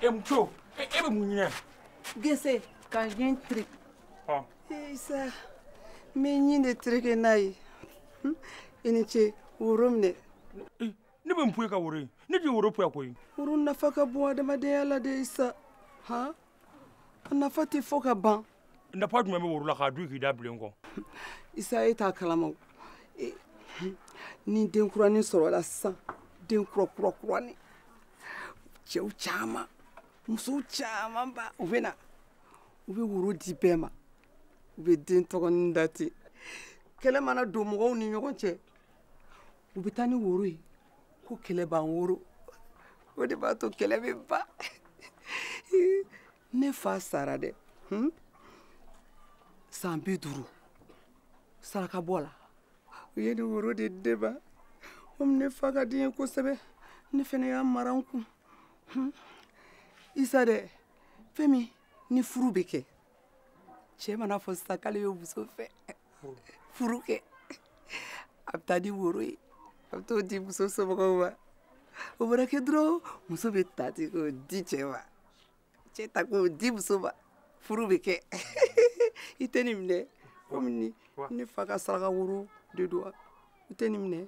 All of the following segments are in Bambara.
e muso e bɛ mun ɲimi. gɛsɛ ka n ye tiri. isa n bɛ ɲin de tereke n'a ye hmm? i ni ce woro minɛ eh, ne bɛ n poye ka woro ye ne tɛ woro poya koyi woro nafa ka bon adamadenya la dɛ isa han a nafa tɛ fɔ ka ban nafa jumɛn bɛ woro la k'a dun k'i da bilen kɔ isa e t'a kalama wa, hmm, ni den kuranin sɔrɔla sisan den kura kura kuranin cɛw caman musow camanba u bɛ na u bɛ woro di bɛɛ ma u bɛ den tɔgɔnin da ten kɛlɛ mana don mɔgɔw ni ɲɔgɔn cɛ u bɛ taa ni woro ye ko kɛlɛ ban woro o de b'a to kɛlɛ bɛ ban ne fa sara dɛ hmm? san bi duuru sarakabɔ la u ye nin woro de di ne ma komi ne fa ka di n ye kosɛbɛ ne fana y'a mara n kun hmm? isa dɛ fɛn min ni furu bɛ kɛ cɛ man'a fɔ sisan k'ale bɛ muso fɛ furu kɛ a bɛ taa ni woro ye a bɛ t'o di muso somɔgɔw ma o mana kɛ dɔrɔn muso bɛ ta ten k'o di cɛ ma cɛ ta k'o di muso ma furu bɛ kɛ i tɛ nin minɛ komi ne fa ka saraka woro de don wa i tɛ nin minɛ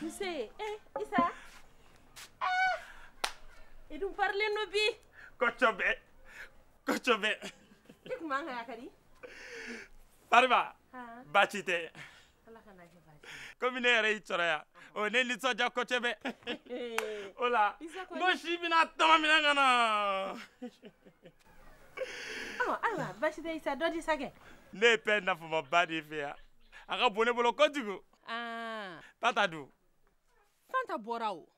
Nse ee Isa aa i dun parilen don bi kɔcɔbɛ kɔcɔbɛ i tun man kan yakari Fariba baasi tɛ komi ne yɛrɛ y'i sɔrɔ yan o ne nisɔndiya kɔcɔbɛ o la n ko si bɛna tɔmɔ minɛ ka na ayiwa baasi tɛ Isa dɔ di sa kɛ ne ye pɛn nafamaba de ye i fɛ yan a ka bon ne bolo kojugu Ah. Tata dun? Fanta bɔra o.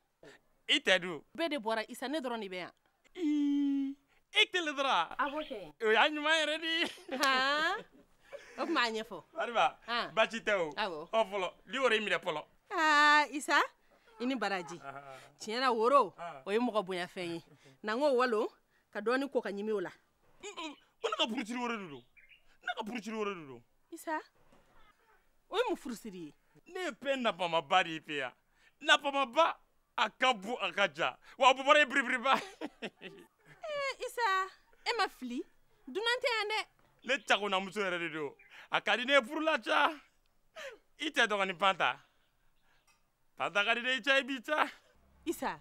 I cɛ dun? Bɛɛ de bɔra Isa ne dɔrɔn de bɛ yan. Ii i kelen dɔrɔn. A b'o kɛ. O y'a ɲuman yɛrɛ de ye. Ah. O tuma a ɲɛfɔ. Fariba. Ah. Baasi tɛ o. Awɔ. Ɔ fɔlɔ nin woro y'i minɛ fɔlɔ. Aa Isa i ni baraji. Tiɲɛ na woro o ye mɔgɔ bonyafɛn ye. Na n k'o walon ka dɔɔni ko ka ɲimi o la. ko ne ka furusiri woro de don ne ka furusiri woro de don isa o ye mun furusiri ye ne ye fɛn nafamaba de ye i fɛ yan nafamaba a ka bon a ka jan wa a bobara ye biribiriba isa e ma fili dunan tɛ yan dɛ ne cagonamuso yɛrɛ de don a ka di ne ye furu la sa i cɛ dɔgɔnin fanta Pantakari de ca bi ca isa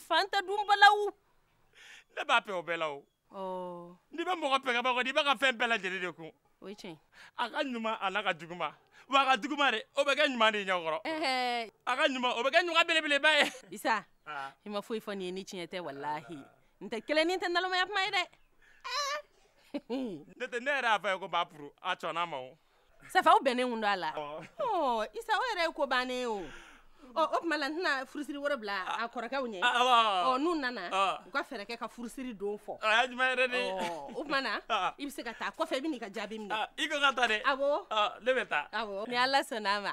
fanta dunbalaw ne b'a fɛ o bɛɛ la o n'i bɛ mɔgɔ fɛ kɛba kɔni i b'a ka fɛn bɛɛ lajɛlen de kun o ye tiɲɛ a ka ɲuman a n'a ka juguman wa a ka juguman de o bɛ kɛ ɲuman de ɲɛkɔrɔ a ka ɲuman o bɛ kɛ ɲuman belebeleba ye isa i ma foyi fɔ nin ye ni tiɲɛ tɛ walahi n tɛ kelen nin tɛ nalomaya kuma ye dɛ ne tɛ ne yɛrɛ y'a fɔ i ye ko n b'a furu a sɔnna a ma o safa aw bɛnnen kun don a la ɔ isa o yɛrɛ ye ko bannen o ɔ o tuma la n tɛna furusiri woro bila a kɔrɔkɛw ɲɛ ɔ n'u nana u ka fɛɛrɛ kɛ ka furusiri don fɔ a ye juma yɛrɛ de o tuma na i bɛ se ka taa kɔfɛ i bɛ n'i ka jaabi minɛ i ko ka taa dɛ awɔ ne bɛ taa awɔ ni ala sɔnna a ma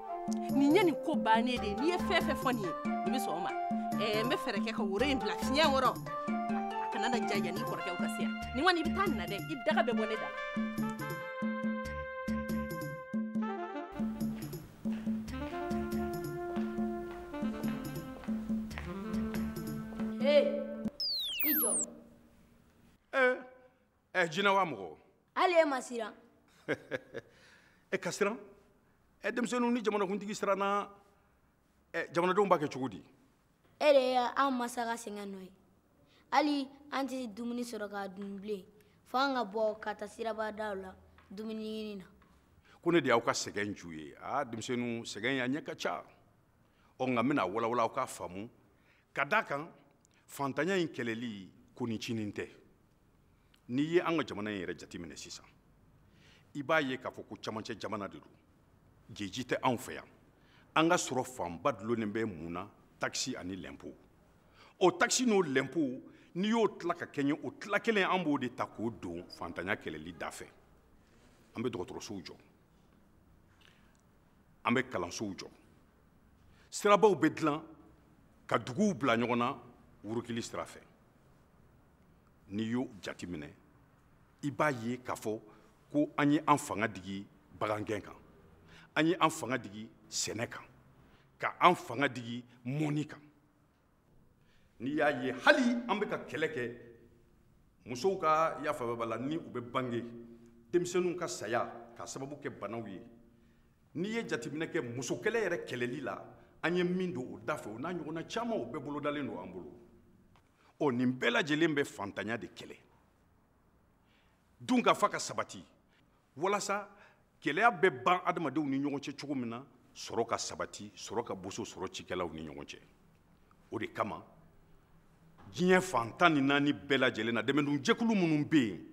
nin ye nin ko bannen de ye n'i ye fɛn fɛn fɔ nin ye nin bɛ sɔn o ma ɛɛ n bɛ fɛɛrɛ kɛ ka woro in bila fiɲɛ kɔrɔ a kana na ja yanni kɔrɔkɛw ka se yan nin kɔni i bɛ taa nin na dɛ i daga bɛ bɔ ne da la. Hey, i jɔ. Ee. Eh. ɛ eh, jinɛ wa mɔgɔ hali e ma siran e eh, ka siran ɛ eh, denmisɛnninw ni jamanakuntigi siranna ɛ jamanadenw b'a kɛ cogo di e de ye an masa ka sɛgɛn nɔ ye hali an tɛ dumuni sɔrɔ k'a dun bilen fo an ka bɔ ka taa sirabadaw la dumuni ɲini na ko ne de y'aw ka sɛgɛn ju ye aa denmisɛnninw sɛgɛnya ɲɛ ka ca ɔ nka n bɛn'a walawala aw k'a faamu ka d'a kan fantanya in kɛlɛli ko ncinin tɛ n'i ye an ka jamana in yɛrɛ jateminɛ sisan i b'a ye k'a fɔ ko cɛmancɛ jamana de don geji tɛ anw fɛ yan an ka sɔrɔ fanba dulonnen bɛ mun na takisi ani lɛnpo o takisi n'o lɛnpo n'i y'o tila ka kɛɲɛ o tila kelen an b'o de ta k'o don fantanya kɛlɛli da fɛ an bɛ dɔgɔtɔrɔsow jɔ an bɛ kalansow jɔ sirabaw bɛ dilan ka duguw bila ɲɔgɔn na wurukili sira fɛ n'i y'o jateminɛ i b'a ye k'a fɔ ko an ye an fanga digi bagangɛn kan an ye an fanga digi sɛnɛ kan ka an fanga digi mɔnni kan n'i y'a ye hali an bɛ ka kɛlɛ kɛ musow ka yafababa la ni u bɛ bange denmisɛnninw ka saya k'a sababu kɛ banaw ye n'i ye jateminɛ kɛ musokɛlɛ yɛrɛ kɛlɛli la an ye min don o da fɛ o n'a ɲɔgɔnna caman o bɛɛ bolodalen don an bolo ɔ nin bɛɛ lajɛlen bɛ fantanya de kɛlɛ dunkafa ka sabati walasa gɛlɛya bɛ ban adamadenw ni ɲɔgɔn cɛ cogo min na sɔrɔ ka sabati sɔrɔ ka boso sɔrɔ cikɛlaw ni ɲɔgɔn cɛ o de kama diɲɛ fan tan ni naani bɛɛ lajɛlen na dɛmɛdonjɛkulu minnu bɛ yen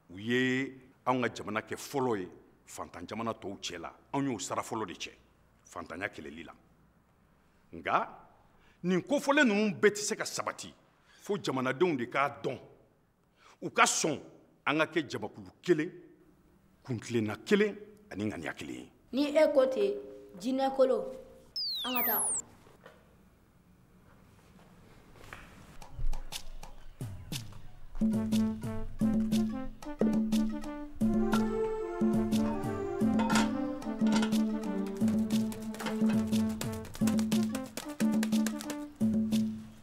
u ye anw ka jamana kɛ fɔlɔ ye fantan jamana tɔw cɛ la anw y'o sara fɔlɔ de cɛ fantanya kɛlɛli la nka nin kofɔlen ninnu bɛɛ tɛ se ka sabati fo jamanadenw de k'a dɔn u ka sɔn an ka kɛ jamakulu kelen kuntilenna kelen ani ŋaniya kelen ye ni e ko ten jinɛ kolo an ka taa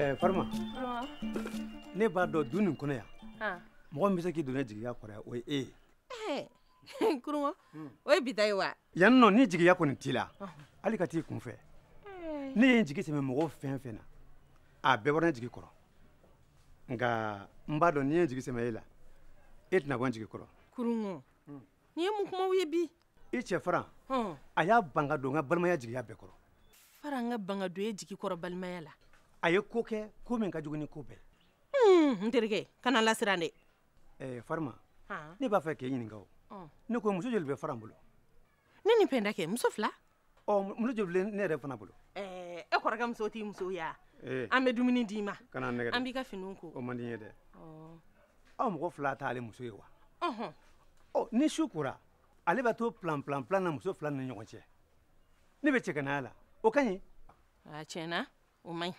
Eh, farima ne b'a dɔn du nin kɔnɔ yan mɔgɔ min bɛ se k'i don ne jigiya kɔrɔ yan o ye e ye eh, kuruma hmm. o ye bi ta ye wa yan nɔ ni jigiya kɔni t'i la hali ka t'i kunfɛ eh. ne ye n jigi sɛmɛ mɔgɔ fɛn fɛn na a bɛɛ bɔra ne jigi kɔrɔ nka n b'a dɔn ni n ye n jigi sɛmɛ e la e tɛna bɔ n jigi kɔrɔ kurungɔ nin ye mun kumaw ye bi i cɛ faran a y'a ban ka don n ka balimaya jigiya bɛɛ kɔrɔ faran k'a ban ka don e jigi kɔrɔ balimaya la a ye ko kɛ ko min ka jugu ni ko bɛɛ n terikɛ kana n lasiran dɛ farima ne b'a fɛ k'e ɲininka o ne ko muso joli bɛ faran bolo ne ni pɛnda kɛ muso fila ɔ muso joli bɛ ne yɛrɛ fana bolo e kɔrɔkɛ muso t'i muso ye wa an bɛ dumuni d'i ma kana n nɛgɛn an b'i ka finiw ko o man di n ye dɛ aw mɔgɔ fila t'ale muso ye wa ɔ ni su kora ale bɛ to plan plan plan na muso fila ni ɲɔgɔn cɛ ne bɛ cɛganaya la o ka ɲi tiɲɛ na o man ɲi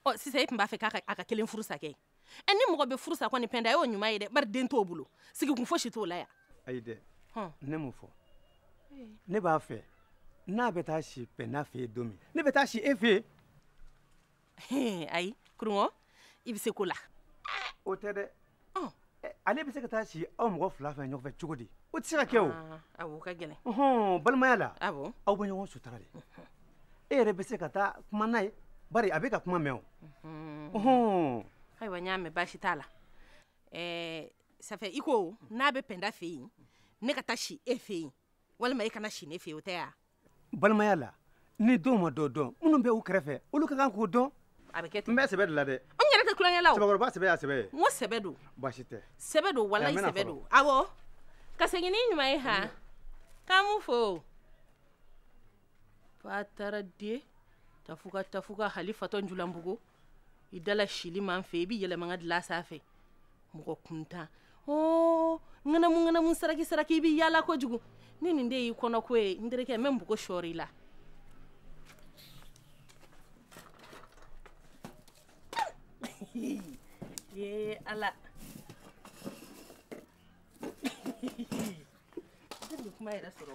ɔ sisan e tun b'a fɛ k'a ka kelen furu sa kɛ ɛ ni mɔgɔ bɛ furu sa kɔni pɛnda y'o ɲuman ye dɛ bari den t'o bolo sigikun fosi t'o la yan ayi dɛ ne m'o fɔ ne b'a fɛ n'a bɛ taa si pɛnda fɛ yen don min ne bɛ taa si e fɛ yen ayi kurungɔ i bɛ siko la o tɛ dɛ ale bɛ se ka taa si aw mɔgɔ fila fɛ ɲɔgɔn fɛ cogo di o tɛ se ka kɛ o ah, o ka gɛlɛn ɔhɔn balimaya la awɔ aw bɛ ɲɔgɔn sutura de e yɛrɛ bɛ se ka taa kuma n'a ye bari a b'i ka kuma mɛn o ɔhɔn ayiwa n y'a mɛn baasi t'a la ɛɛ ça fait i ko n'a bɛ pɛnda fɛ yen ne ka taa si e fɛ yen walima i kana si ne fɛ o t'an ka balimaya la ni dɔw ma dɔ dɔn minnu bɛ u kɛrɛfɛ olu ka kan k'o dɔn a bɛ kɛ ten n bɛ sɛbɛ de la dɛ n yɛrɛ tɛ tulonkɛ la o cɛbakɔrɔba sɛbɛ y'a sɛbɛ ye n ko sɛbɛ don baasi tɛ sɛbɛ don walayi sɛbɛ don awɔ ka segin ni ɲuman ye han k'an b'u fo fa taara dɛ tafuka tafuka hali fatɔ njulanbugu i dala sili man fɛ i bɛ yɛlɛ maa ka dilan sanfɛ mɔgɔ kuntan ɔɔ ŋanamu ŋanamu saraki saraki i bɛ yaala kojugu ni nin de y'i kɔnɔko ye n terikɛ n bɛ npogo sɔɔri i la ye ala kuma yɛrɛ sɔrɔ